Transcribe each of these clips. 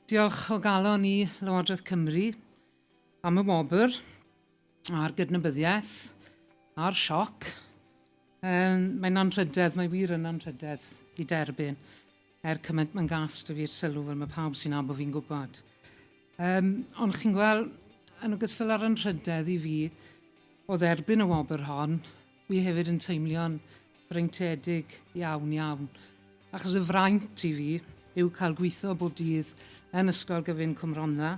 Diolch o galon i Lywodraeth Cymru am y wobr a'r gydnabyddiaeth a'r sioc. Um, mae'n anrhydedd, mae wir yn anrhydedd i derbyn er cymaint mae'n gas dy fi'r sylw fel mae pawb sy'n abo fi'n gwybod. Um, ond chi'n gweld, yn ogystal â'r anrhydedd i fi o dderbyn y wobr hon, Fi hefyd yn teimlio'n freintiedig iawn, iawn, achos y fraint i fi yw cael gweithio bob dydd yn Ysgol Gyfun Cwm Rhondda,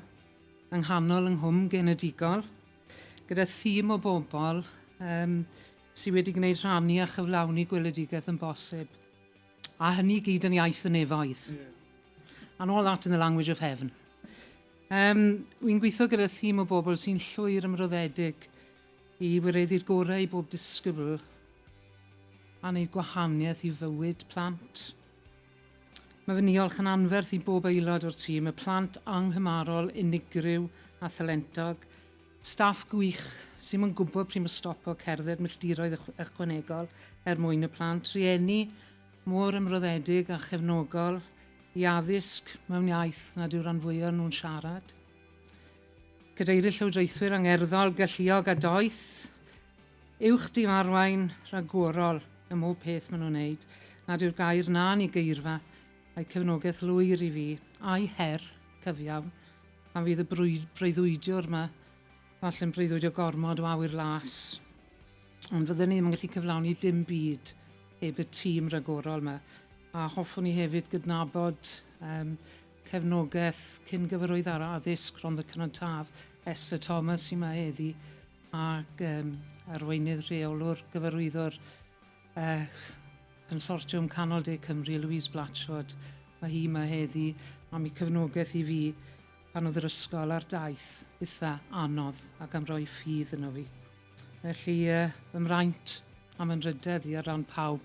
yng nghanol yng nghwm genedigol, gyda thîm o bobl um, sydd wedi gwneud rhannu a chyflawni gweledigaeth yn bosib. A hynny gyd yn iaith y nefoedd. And all that in the language of heaven. Um, Wy'n gweithio gyda thîm o bobl sy'n llwyr ymroddedig I wireddu'r gorau i bob disgybl a wneud gwahaniaeth i fywyd plant. Mae fy niolch yn anferth i bob aelod o'r tîm, y plant anghymarol, unigryw a thalentog, staff gwych sy'n mo'n gwybod pryd mae stopo cerdded milltiroedd ychwanegol er mwyn y plant, rhieni mor ymroddedig a chefnogol i addysg mewn iaith nad yw'r rhan fwyaf nhw'n siarad. Cadeirydd Llywodraethwyr angerddol, galluog a doeth, uwch dim arwain, rhagorol ym mhob peth maen nhw'n wneud, nad yw'r gair na'n i geirfa, a'u cefnogaeth lwyr i fi, a'u her cyfiawn, pan fydd y breuddwydiwr yma, falle'n breuddwydio gormod o awyr las, ond fydden ni ddim yn gallu cyflawni dim byd heb y tîm ragorol yma, a hoffwn i hefyd gydnabod um, Cefnogaeth cyn gyfarwydd ar addysg Rhondda Cynon Taf, Esther Thomas, sy'n mae heddi, ac um, arweinydd rheolwr gyfarwyddwr uh, Consortiwm Canol De Cymru, Louise Blatchford. Mae hi mae heddi am ei cefnogaeth i fi pan oedd yr ysgol ar daith eitha anodd ac am roi ffydd yno fi. Felly, uh, fy mraint am ymrydedd i ar ran pawb